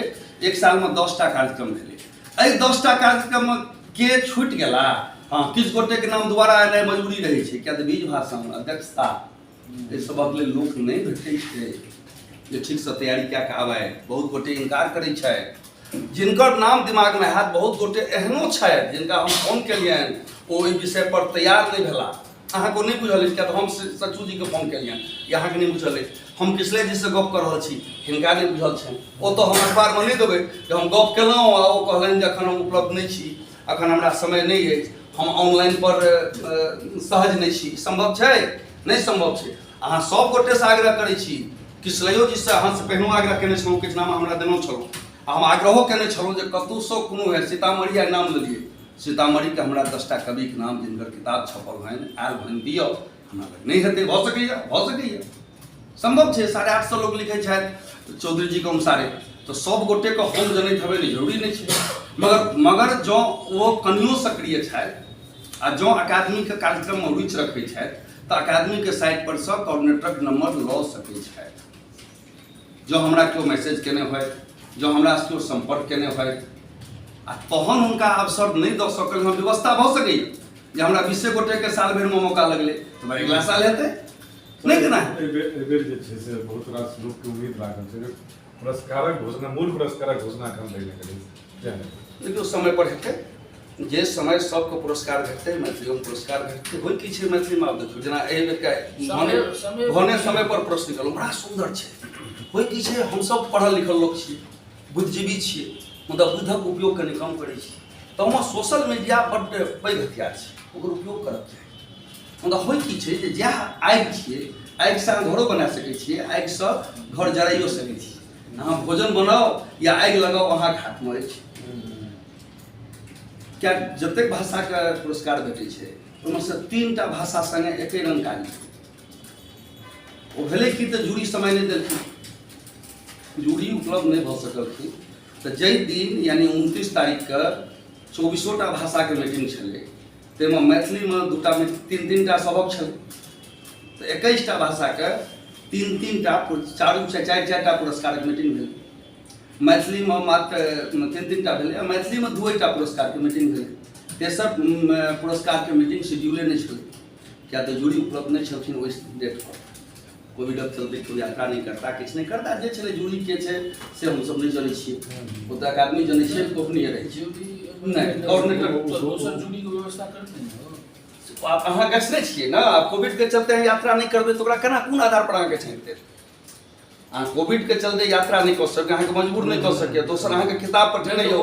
एक सालमे दस टा कार्यक्रम भेलै एहि दसटा कार्यक्रमक के छूटि गेला हँ किछु गोटेके नाम दुबारा एनाइ मजबूरी रहै छै किया तऽ बीज भाषण अध्यक्षता एहि सभक लेल लोक नहि भेटै छै जे ठीकसँ तैयारी कए कऽ आबय बहुत गोटे इनकार करै छथि जिनकर नाम दिमागमे हैत बहुत गोटे एहनो छथि जिनका हम फोन केलियनि ओ ओहि विषयपर तैयार नहि भेला अहाँ को नहीं बुझल अछि किया हम सचू जी के फोन केलियन या अहाँ के नहीं बुझल अछि हम कृष्णा जी से गप कर रहल छी हिनका नहीं बुझल छन ओ तो हम अखबार में नहीं देबे जे हम गप केलौ आ ओ कहलन जे अखन हम उपलब्ध नहीं छी अखन हमरा समय नहीं अछि हम ऑनलाइन पर सहज नहीं छी संभव छै नहीं संभव छै अहाँ सब गोटे से आग्रह करै छी कृष्णयो जी से अहाँ से पहिनो आग्रह केने छलौ किछु नाम हमरा देनौ छलौ हम आग्रहो केने छलौ जे कतौ से कोनो है सीतामढ़ी नाम लेलिए सीतामढ़ी के हमरा दसटा कवि के नाम जिनकर किताब छपल हन आयल हन दियो हमरा लग नहीं हेतै भऽ सकैया भऽ सकैया संभव छै साढ़े आठ सौ लोग लिखै छथि चौधरी जी के अनुसारे तो सब गोटे के हम जनैत हेबै नहि जरूरी नहि छै मगर मगर जँ ओ कनियो सक्रिय छथि आ जँ अकादमी के कार्यक्रम में रुचि रखै छथि तऽ अकादमी के साइट पर से कोऑर्डिनेटरक नंबर लऽ सकै छथि जो हमरा केओ मैसेज केने हो जो हमरा केओ संपर्क केने हो आ तहन हुनका अवसर नहीं द सकल हम व्यवस्था भ सके जे हमरा बीसे गोटे के साल भर में मौका लगले तो भाई अगला साल हेते नहीं केना एबेर जे छै से बहुत रास लोग के उम्मीद लागल छै पुरस्कारक घोषणा मूल पुरस्कारक घोषणा कम नहीं करी देखियौ समय पर हेतै जे समय सबके पुरस्कार भेटतै मैथिलियोमे पुरस्कार भेटतै होइ की छै मैथिलीमे आब देखियौ जेना एहि बेरका भने भने समय पर प्रश्न निकलल बड़ा सुन्दर छै होइ की छै हमसब पढ़ल लिखल लोक छियै बुद्धिजीवी छियै मुदा बुद्धक उपयोग कनि कम करै छी तहमे सोशल मीडिया बड्ड पैघ हथियार छै ओकर उपयोग करब चाही मुदा होइ की छै जे जएह आगि छियै आगिसँ अहाँ घरो बना सकै छियै आगिसँ घर जराइयो सकै छियै अहाँ भोजन बनाउ या आगि लगाउ अहाँके हाथमे अछि क्या जतेक भाषाके पुरस्कार भेटै छै ओहिमे से तीन टा भाषा संगे एके रंग काज ओ भेलै कि तऽ जूरी समय नहि देलखिन जूरी उपलब्ध नहि भऽ सकलखिन तऽ जाहि दिन यानी उनतीस तारीखके चौबीसोटा भाषाके मीटिंग छलै ताहिमे मैथिलीमे दूटा तीन तीन टा सबक छल तऽ एकैस टा भाषाके तीन तीन टा चारू चारि चारि टा पुरस्कारक मीटिंग भेल मैथिलीमे मात्र तीन तीन टा भेलै मैथिलीमे दू टा पुरस्कारके मीटिंग भेलै तेसर पुरस्कारके मीटिंग शेड्यूले नहि छलै किया तऽ जूरी उपलब्ध नहि छलखिन ओहि डेटपर कोविडक चलते केओ यात्रा नहि करता किछु नहि करता जे छलै जूरी के छै से हमसभ नहि जनै छियै ओतऽ आदमी जनै छियै गोपनीय रहै छै नहि कोऑर्डिनेटर अहाँ गैस नहि छियै ने आब कोविडके चलते अहाँ यात्रा नहि करबै तऽ ओकरा केना कोन आधार पर अहाँके छानि देत अहाँ कोविडके चलते यात्रा नहि कऽ सकैए अहाँके मजबूर नहि कऽ सकैए दोसर अहाँके किताब पर ठेने यौ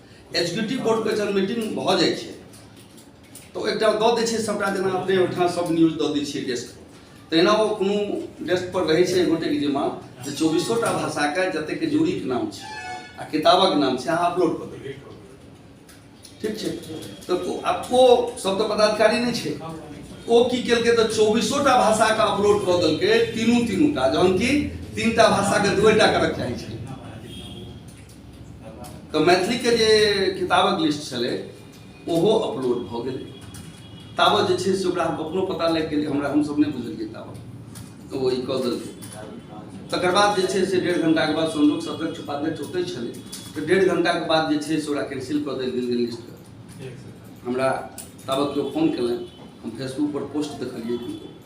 एग्जीक्यूटिव बोर्ड के जब मीटिंग भऽ जाइ छै तऽ एकटा दऽ दै छै सबटा जेना अपने ओहिठाम सब न्यूज दऽ दै छियै डेस्क तहिना ओ कोनो डेस्क पर रहै छै गोटेके जिम्मा जे चौबीसोटा भाषाके जतेक जोड़ीके नाम छै आ किताबक नाम छै अहाँ अपलोड कऽ देबै ठीक छै तऽ आब ओ सब तऽ पदाधिकारी नहि छै ओ की केलकै तऽ चौबीसोटा भाषाके अपलोड कऽ देलकै तीनू तीनूटा जहन कि तीनटा भाषाके दूएटा करक चाही छै तऽ मैथिलीके जे किताबक लिस्ट छलै ओहो अपलोड भऽ गेलै ताबत जे छै से ओकरा हम अपनो पता लागि गेलै हमरा हमसभ नहि बुझलियै ताबत तऽ ओ ई कऽ देलकै तकर बाद जे छै से डेढ़ घंटाके बाद संजोग सदस्य उपाध्यक्ष ओतै छलै तऽ डेढ़ घंटाके बाद जे छै से ओकरा कैंसिल कऽ देल गेल लिस्टके हमरा ताबत केओ फोन केलनि हम फेसबुकपर पोस्ट देखलियै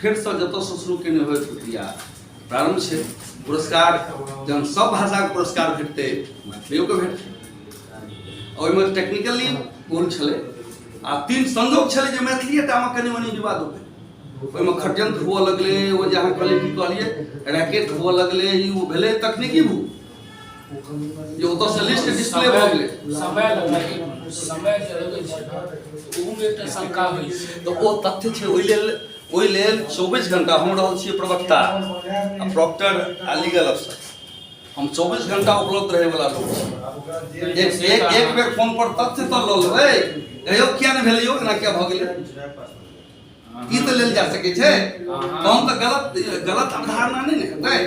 फेरसँ जतऽसँ शुरू केने होय प्रक्रिया प्रारम्भ छै पुरस्कार जहन सब भाषाके पुरस्कार भेटतै मैथिलियोके भेटतै ओहिमे टेक्निकली भूल छलै आ तीन संजोग छलै जे मैथिलिए टामे कनि मनि विवाद हो गेलै ओहिमे खड्यंत्र हुअ लगलै ओ जे अहाँ कहलियै की कहलियै रैकेट हुअ लगलै ई ओ भेलै तकनीकी भूल यो ओतऽ से लिस्ट डिस्प्ले भऽ गेलै समय लगाइ समय जे लगै छै ने, ओहूमे एकटा शंका होइ छै तऽ ओ तथ्य छै ओहि लेल ओहि लेल चौबीस घंटा हम रहल छियै प्रवक्ता आ प्रॉक्टर आ लीगल अफसर हम चौबीस घंटा उपलब्ध रहे वाला लोग छी एक एक एक बेर फोन पर तथ्य तऽ लऽ लेबै कहियो किया नहि भेलै यौ एना किया भऽ गेलै ई तऽ लेल जा सकै छै तहन तऽ गलत गलत अवधारणा नहि ने हेतै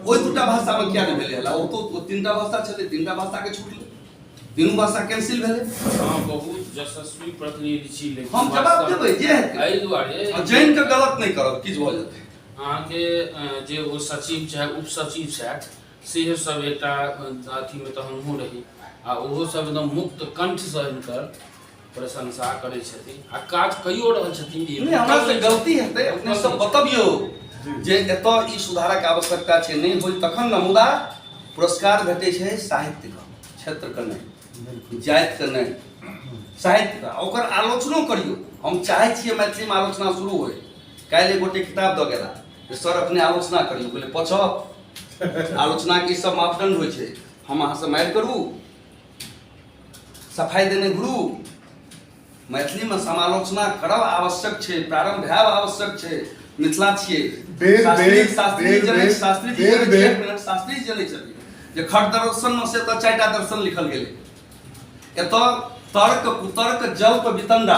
ओहि दूटा भाषामे किया नहि भेलै हला ओ तो तीनटा भाषा छलै तीनटा भाषाके छूटलै तीनू भाषा कैंसिल भेलै हँ बहुत यशस्वी प्रतिनिधि छी लेकिन हम जवाब देबै जे हेतै एहि दुआरे जैन के गलत नहि करब किछु भऽ जेतै अहाँके जे ओ सचिव चाहे उप सचिव छथि सेहो सब एकटा अथीमे तऽ हमहूँ रही आ ओहो सब एकदम मुक्त कंठसँ हिनकर प्रशंसा करै छथिन आ काज कइयो रहल छथिन जे नहि हमरा से गलती हेतै अपने सब बतबियौ जे एतय ई सुधारक आवश्यकता छै नहि होय तखन ने मुदा पुरस्कार भेटै छै साहित्यके क्षेत्रके नहि जातिके नहि साहित्यके आ ओकर आलोचनो करियौ हम चाहै छियै मैथिलीमे आलोचना शुरू होय काल्हि एक गोटे किताब दऽ गेला जे सर अपने आलोचना करियौ कहलियै पछऽ आलोचनाके ई सब मापदंड होइ छै हम अहाँसँ मारि करू सफाइ देने गुरु मैथिलीमे समालोचना करब आवश्यक छै प्रारंभ भए आवश्यक छै मिथिला छियै शास्त्री शास्त्री जनै शास्त्री जी जनै एक मिनट शास्त्री जी जनै छथिन जे खट दर्शनमे से तऽ चारिटा दर्शन लिखल गेलै एतऽ तर्क कुतर्क जल्प वितंडा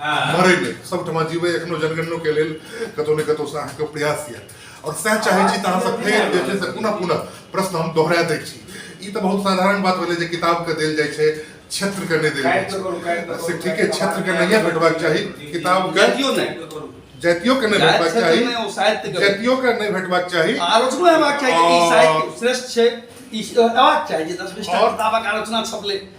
मरे ले सब ठमा जीवे एखनो जनगणनो के लेल कतो ने कतो से अहाँके प्रयास यऽ और सह चाहे छी तऽ अहाँसँ फेर जे छै से पुनः पुनः प्रश्न हम दोहरा दै छी ई तऽ बहुत साधारण बात भेलै जे किताबके देल जाइ छै क्षेत्रके नहि देल जाइ छै से ठीके क्षेत्रके नहिए भेटबाक चाही किताबके जातियो नहि जातियोके नहि भेटबाक चाही जातियोके नहि भेटबाक चाही आलोचनो हेबाक चाही श्रेष्ठ छै ई हेबाक चाही जे दस बीसटा किताबक आलोचना छपलै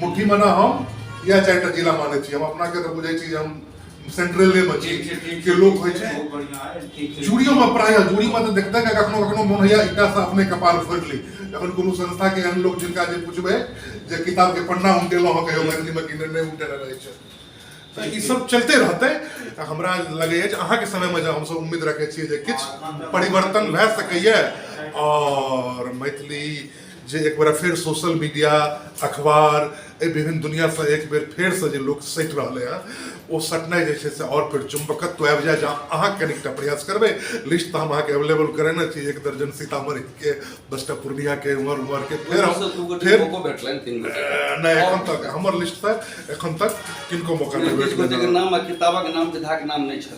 मुट्ठी मना हम या चारिटा जिला मानै छी हम अपना के तऽ बुझै छी जे हम सेंट्रले मे छी के लोक होइ छै जूड़ियो में प्राय जूड़ी में तऽ देखते के कखनो कखनो मोन होइया एकटा से अपने कपार फोड़ि ली जखन कोनो संस्था के एहन लोक जिनका जे पुछबै जे किताब के पन्ना उल्टेलहुँ हँ कहियो मैथिली में किने नहि उल्टेने रहै छै तऽ ई सब चलते रहतै आ हमरा लगैए जे अहाँके समयमे जे हमसब उम्मीद रखै छियै जे किछु परिवर्तन भए सकैए आओर मैथिली जे एक बेर फेर सोशल मीडिया अखबार एहि विभिन्न दुनिआसँ एक बेर फेरसँ जे लोक सटि रहलै हँ ओ सटनाइ जे छै से आओर फेर चुम्बकत्व आबि जाए जहाँ अहाँ कनिकटा प्रयास करबै लिस्ट तऽ हम अहाँके अवेलेबल करेने छी एक दर्जन सीतामढ़ीके दसटा पूर्णियाके उमर उमरके फेर हम फेर नहि एखन तक हमर लिस्ट तऽ एखन तक किनको मौका नहि भेटलै नाम किताबक नाम विधाक नाम नहि छल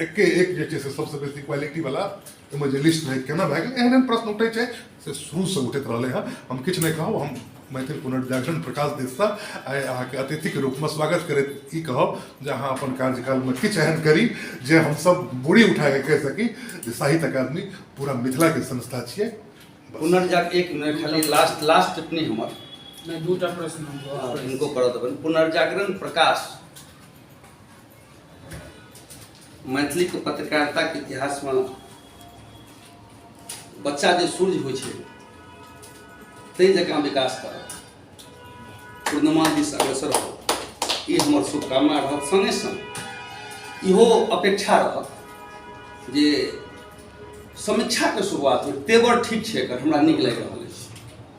एके एक जे छै से सबसँ बेसी क्वालिटीवला ओहिमे जे लिस्ट रहै केना भए गेल एहन एहन प्रश्न उठै छै से शुरूसँ उठैत रहलै हँ हम किछु नहि कहब हम मैथिल पुनर्जागरण प्रकाश दिससँ आइ अहाँके अतिथिके रूपमे स्वागत करैत ई कहब जे अहाँ अपन कार्यकालमे किछु एहन करी जे हमसभ बूढ़ी उठाके कहि सकी जे साहित्य अकादमी पूरा मिथिलाके संस्था छियै पुनर्जाग एक मिनट खाली लास्ट लास्ट टिप्पणी हमर नहि दूटा प्रश्न हिनको करऽ देबनि पुनर्जागरण प्रकाश मैथिली के पत्रकारिता के इतिहास में बच्चा जे सूर्य हो ताहि जकाँ विकास करत पूर्णिमा दिस अग्रसर हो ई हमर शुभकामना रहत संगे संग इहो अपेक्षा रहत जे समीक्षा के शुरुआत हो तेवर ठीक छै एकर हमरा नीक लागि रहल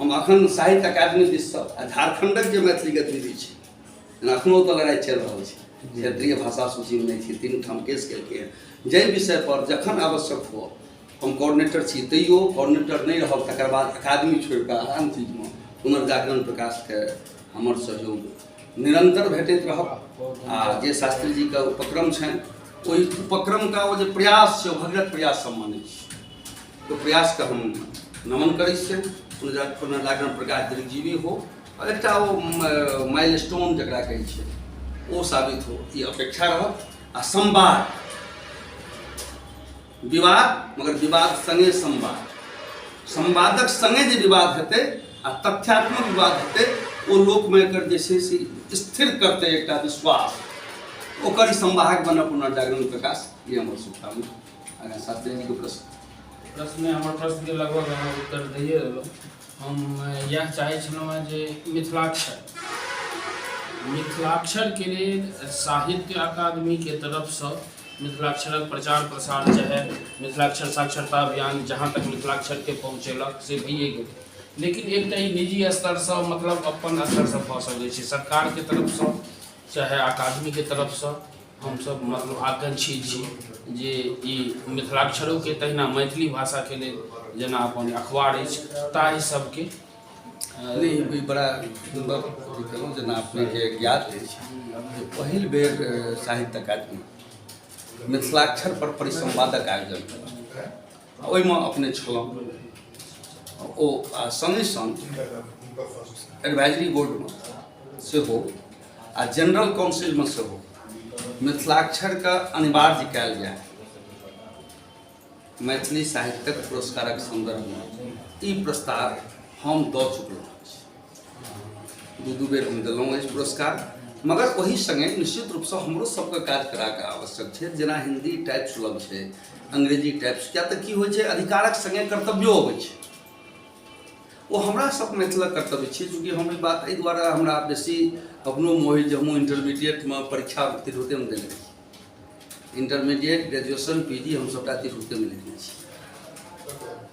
हम अखन साहित्य अकादमी दिस आ झारखंडक जे मैथिली गतिविधि छै जेना अखनो ओतऽ लड़ाइ चलि रहल छै क्षेत्रीय भाषा सूची में नहीं थी तीन ठाम केस केलकै जै विषय पर जखन आवश्यक हो हम कोऑर्डिनेटर छी तैयो कोऑर्डिनेटर नहीं रहब तक बाद अकादमी छोड़ के आन चीज में पुनर्जागरण प्रकाश के हमर सहयोग निरंतर भेटैत रह आ जे शास्त्री जी के उपक्रम छनि ओहि उपक्रम का वो जो प्रयास से भगीरथ प्रयास सम्मानित के प्रयास के हम नमन करै छियनि पुनः पुनः लागन प्रकाश दीर्घजीवी हो और एक वो माइल स्टोन जरा कहे वो साबित हो ये अपेक्षा रह आ संवाद विवाद मगर विवाद संगे संवाद संवादक संगे जो विवाद हेतु आ तथ्यात्मक विवाद हेतु वो लोक में एकर जैसे से स्थिर करते एक विश्वास ओकर संवाहक बन पुनर्जागरण प्रकाश ये हमारे शुभकामना आगाँ साथ देने के प्रश्न प्रश्न में हमर प्रश्न के लगभग अहाँ उत्तर दैए देलहुँ हम अ, इएह चाहै छलहुँ हेँ जे मिथिलाक्षर मिथिलाक्षर के लेल साहित्य अकादमी के तरफ से मिथिलाक्षरक प्रचार प्रसार चाहे मिथिलाक्षर साक्षरता अभियान जहाँ तक मिथिलाक्षर के पहुँचेलक से भइए गेल लेकिन एकटा ई निजी स्तर से मतलब अपन स्तर से भऽ सकैत छै सरकार के तरफ से चाहे अकादमी के तरफ से हमसभ मतलब आकांक्षी छी जे ई मिथिलाक्षरोके तहिना मैथिली भाषाके लेल जेना अपन अखबार अछि ताहि सभके नहि ई बड़ा सुन्दर अथी केलहुँ जेना अपनेके ज्ञात अछि जे पहिल बेर अ, साहित्य अकादमी मिथिलाक्षर पर परिसंवादक आयोजन केलक ओहिमे अपने छलहुँ ओ आ सङ्गे सङ्ग एडवाइजरी बोर्डमे सेहो आ जनरल काउन्सिलमे सेहो मिथिलाक्षरके अनिवार्य कयल जाय मैथिली साहित्यक पुरस्कारक सन्दर्भमे ई प्रस्ताव हम दऽ चुकलहुँ दू दू बेर हम देलहुँ अछि पुरस्कार मगर ओहि सङ्गे निश्चित रूपसँ हमरो सबके काज कराके आवश्यक छै जेना हिन्दी टाइप सुलभ छै अंग्रेजी टाइप किया तऽ की होइ छै अधिकारक सङ्गे कर्तव्यो अबै छै ओ हमरा सब मिथिलक कर्तव्य छी चूँकि हम ई बात एहि दुआरे हमरा बेसी अपनो मोहि जे हमहूँ इंटरमीडिएटमे परीक्षा उत्तीर्ण होते हम देने रही इंटरमीडिएट ग्रेजुएशन पी जी हम सबटा तिरहुते में लिखने छी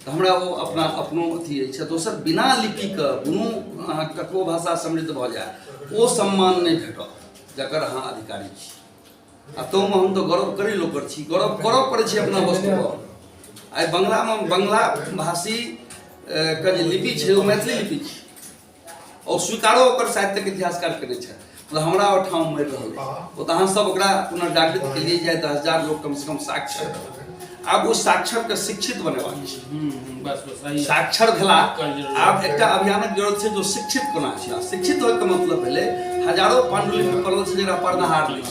तऽ हमरा ओ अपना अपनो अथी अछि दोसर बिना लिपिके कोनो अहाँ ककरो भाषा समृद्ध भऽ जाय ओ सम्मान नहि भेटत जकर अहाँ अधिकारी छी आ तहुमे हम तऽ गौरव करै लोकर छी गौरव करऽ पड़ै छै अपना वस्तुपर आइ बंगलामे बंगला भाषी के जे लिपि छै ओ मैथिली लिपि छै और स्वीकारो ओकर साहित्य के इतिहासकार करे छे मतलब हमरा और ठाम मर रहल ओ त अहाँ सब ओकरा पुनः जागृत के लिए जाए 10000 लोग कम से कम साक्षर आब ओ साक्षर के शिक्षित बने वाली छे हम्म, हम्म, बस बस सही साक्षर भेला आब एकटा अभियानक जरूरत छे जो शिक्षित कोना छे शिक्षित होय के मतलब भेले हजारों पांडुलिपि पड़ल छे जेकरा पढ़नाहार नहीं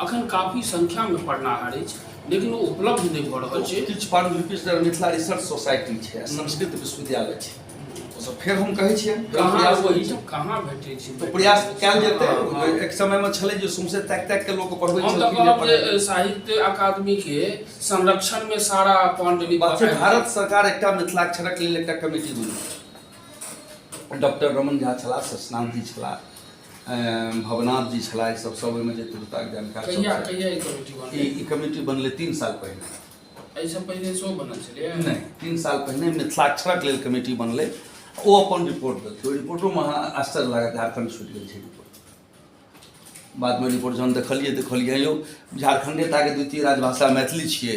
अखन काफी संख्या में पढ़नाहर अछि लेकिन ओ उपलब्ध नहि भऽ रहल छै किछु पांडुलिपिस जेना मिथिला रिसर्च सोसाइटी छै संस्कृत विश्वविद्यालय छै ओसभ फेर हम कहै छियै प्रयास करै छियै कहाँ भेटै छै तऽ प्रयास कयल जेतै हँ, हँ। एक समय में छलै जे सौंसे ताकि ताकि के लोक पढ़बै हम तऽ छलखिन जे कहब पढ़ै जे साहित्य अकादमी के संरक्षण में सारा पांडुलिपि बात छै भारत सरकार एकटा मिथिलाक्षरक लेल एकटा कमेटी बनेलक डॉक्टर रमन झा छलाह ससनाथ जी छलाह भवनाथ जी छला ई सब सब ओहिमे जे तुरताक जानकार कहिया कहिया ई कमेटी बनल ई कमेटी बनलै तीन साल पहिने एहिसँ पहिने सेहो बनल छलै नहि तीन साल पहिने मिथिलाक्षरक लेल कमेटी बनलै ओ अपन रिपोर्ट देलकै ओहि रिपोर्टोमे अहाँ आश्चर्य लागत झारखण्ड छूटि गेल छै रिपोर्ट बादमे रिपोर्ट जहन देखलियै देखलियै यौ झारखण्डे टाके द्वितीय राजभाषा मैथिली छियै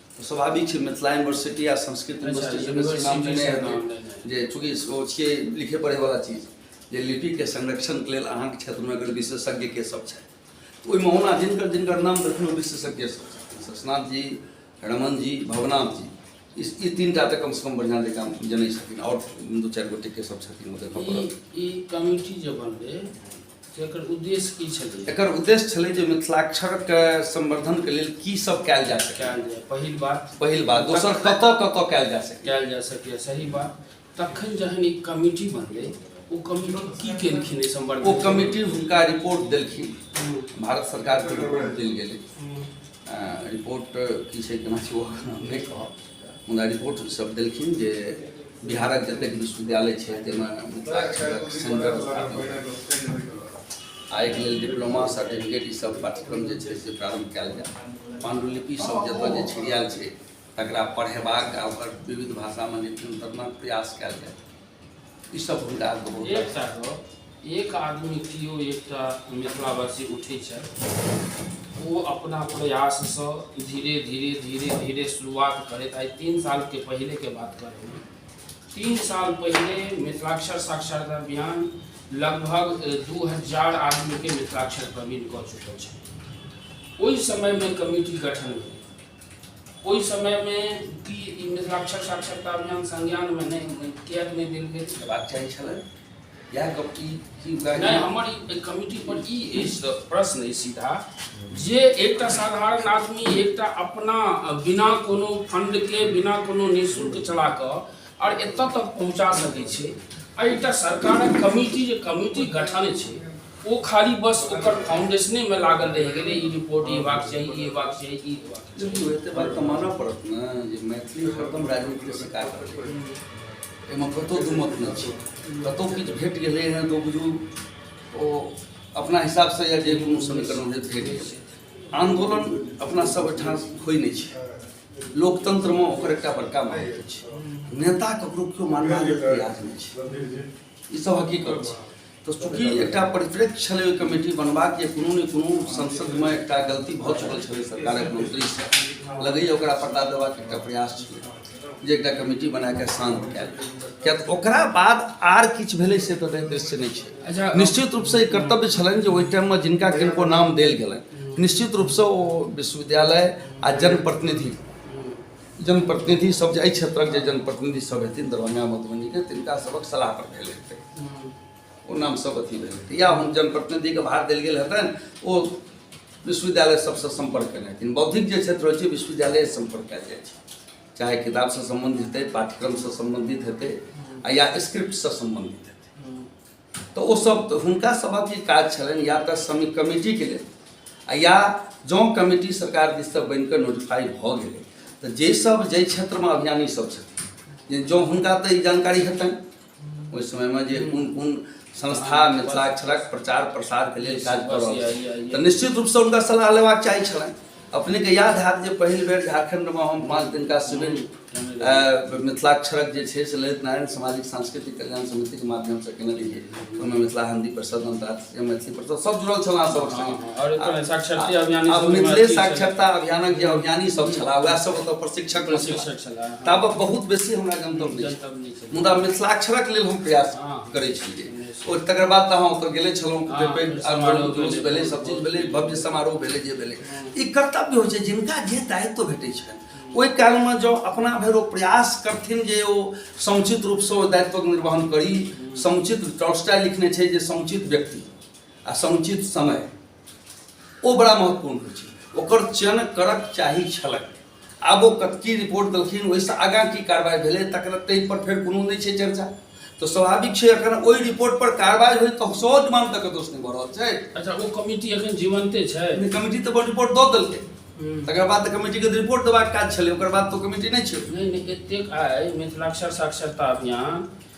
स्वाभाविक छै मिथिला यूनिवर्सिटी आ संस्कृत यूनिवर्सिटी जे चूँकि ओ छियै लिखे पढ़ैवला चीज जे लिपिके संरक्षणके लेल अहाँके क्षेत्रमे अगर विशेषज्ञ के सब छथि तऽ ओहिमे ओना जिनकर जिनकर नाम देखलहुँ ओ विशेषज्ञ सब शशनाथ जी रमन जी भवनाथ जी ई ई तीन टा तऽ कमसँ कम बढ़िआँ जकाँ जनै छथिन आओर दू चारि गोटेके सब छथिन ओ देखऽ पड़त ई कमिटी जे बनलै एकर उद्देश्य की छलै एकर उद्देश्य छलै जे मिथिलाक्षरके संवर्धनके लेल की सब कयल जा सकै कयल जाय पहिल बात पहिल बात दोसर कतऽ कतऽ कयल जा सकै कयल जा सकैए सही बात तखन जहन ई कमिटी बनलै ओ कमिटी की केलखिन एहि ओ संबंध कमिटी हुनका रिपोर्ट देलखिन भारत सरकारके रिपोर्ट देल गेलै अ, रिपोर्ट की छै केना छै ओ हम नहि कहब मुदा रिपोर्ट सब देलखिन जे बिहारक जतेक विश्वविद्यालय छै ताहिमे मिथिलाक्षरक सेंटर आ एक लेल डिप्लोमा सर्टिफिकेट ई सब पाठ्यक्रम जे छै से प्रारंभ कयल जाय पांडुलिपि सब जतय जे छिड़ियाल छै तकरा पढ़ेबाक आ ओकर विविध भाषामे नित्यंतरणक प्रयास कयल जाय ई सब हुनका बहुत एकटा गप एक आदमी केओ एकटा मिथिलावासी उठै छथि ओ अपना प्रयाससँ धीरे धीरे धीरे धीरे शुरुआत करैत आइ तीन सालके पहिलेके बात करैमे तीन साल पहिले मिथिलाक्षर साक्षरता अभियान लगभग दू हजार आदमीके मिथिलाक्षर प्रवीण कऽ चुकल छथि ओहि समयमे कमिटी गठन भेल ओहि समय मे ई मिथिलाक्षर साक्षरता अभियान संज्ञान मे नहि किया नहि देल गेल हेबाक चाही छलै या गप की की नहि हमर ई कमिटी पर ई प्रश्न अछि सीधा जे एकटा साधारण आदमी एकटा अपना बिना कोनो फंड के बिना कोनो निःशुल्क चला कऽ और एतऽ तक पहुंचा सकै छै एकटा सरकारक कमिटी जे कमिटी गठन छै ओ खाली बस ओकर फाउंडेशने में लागल रह गए ई रिपोर्ट ये बात सही ये बात सही ई एते बात तो मानऽ पड़त ने जे मैथिली हरदम राजनीति के शिकार एहिमे कतहु दू मत नहि छै कतहु किछु भेट गेलै हँ तऽ बुझू ओ अपना हिसाबसँ या जे कोनो समीकरण जे भेट गेलै आंदोलन अपना सब ओहिठाम होइ नहि छै लोकतंत्रमे ओकर एकटा बड़का मायने छै नेता ककरो केओ मानबाक प्रयास नहि छै ई सब हकीकत छै तऽ चूँकि एकटा परिप्रेक्ष्य छलै ओहि कमेटी बनबाक जे कोनो ने कोनो संसदमे एकटा गलती भऽ चुकल छलै सरकारक मंत्रीसँ लगैए ओकरा पता देबाक एकटा प्रयास छलै जे एकटा कमेटी बना कऽ शान्त कयल किया तऽ ओकरा बाद आर किछु भेलै से तऽ दृश्य नहि छै अच्छा, निश्चित रूपसँ ई कर्तव्य छलनि जे ओहि टाइममे जिनका किनको नाम देल गेलनि निश्चित रूपसँ ओ विश्वविद्यालय आ जनप्रतिनिधि जनप्रतिनिधि सब जे एहि क्षेत्रक जे जनप्रतिनिधि सब हेथिन दरभंगा मधुबनी के तिनका सबक सलाह पर भेल हेतै ओ नाम सब अथी भेल हेतै या हम जनप्रतिनिधि के भार देल गेल हेतनि ओ विश्वविद्यालय सबसँ सम्पर्क केने हेथिन बौद्धिक जे क्षेत्र होइ छै विश्वविद्यालय सम्पर्क कयल जाइ छै चाहे किताबसँ सम्बन्धित हेतै पाठ्यक्रमसँ सम्बन्धित हेतै आ या स्क्रिप्टसँ सम्बन्धित हेतै तऽ ओ सब तऽ हुनका सबहक ई काज छलनि या तऽ समिति कमिटीके लेल आ या जँ कमिटी सरकार दिससँ बनिकऽ नोटिफाइ भऽ गेलै तऽ जे सब जाहि क्षेत्रमे अभियानी सब छथिन जे जँ हुनका तऽ ई जानकारी हेतनि ओहि समयमे जे कोन कोन संस्था मिथिलाक्षरक प्रचार प्रसारके लेल काज कऽ रहल छै तऽ निश्चित रूपसँ हुनका सलाह लेबाक चाही छलनि अपने के याद है जे पहिल बेर झारखंड में हम पाँच दिन का शिविर मिथिलाक्षरक जे छै से ललित नारायण सामाजिक सांस्कृतिक कल्याण समिति के माध्यम से केने रहिए ओहिमे मिथिला हिंदी परिषद अंतर्राष्ट्रीय मैथिली परिषद सब जुड़ल छल अहाँ सब हाँ, हाँ, अब मिथिले साक्षरता अभियानक जे अभियानी सब छला वएह सब ओतऽ प्रशिक्षक छला तब बहुत बेसी हमरा गंतव्य मुदा मिथिलाक्षरक लेल हम प्रयास हाँ। करै छलियै ओ तकर बाद तऽ अहाँ ओतऽ गेले छलहुँ हाँ, कते पैघ समारोह आंदोलन भेलै, जुलूस भेलै सब चीज भेलै भव्य समारोह भेलै जे भेलै ई कर्तव्य होइ छै जिनका जे दायित्व भेटै छनि ओहि कालमे जँ अपना भरि ओ प्रयास करथिन जे ओ समुचित रूपसँ ओ दायित्वक निर्वहन करी समुचित टॉलस्टाय लिखने छै जे समुचित व्यक्ति आ समुचित समय ओ बड़ा महत्वपूर्ण होइ छै ओकर चयन करक चाही छलक आब ओ कतकी रिपोर्ट देलखिन ओहिसँ आगाँ की कार्रवाई भेलै तकर ताहिपर फेर कोनो नहि छै चर्चा तऽ स्वाभाविक छै अखन ओहि रिपोर्ट पर कार्रवाई होय तऽ सौ मान तक दोष नहि भऽ रहल छै अच्छा ओ कमिटी अखन जीवंते छै कमिटी तऽ रिपोर्ट दऽ देलकै हम्म। तकर बाद तऽ कमिटीके रिपोर्ट देबाक काज छलै ओकर बाद तऽ कमिटी नहि छै नहि नहि एतेक आइ मिथिलाक्षर साक्षरता अभियान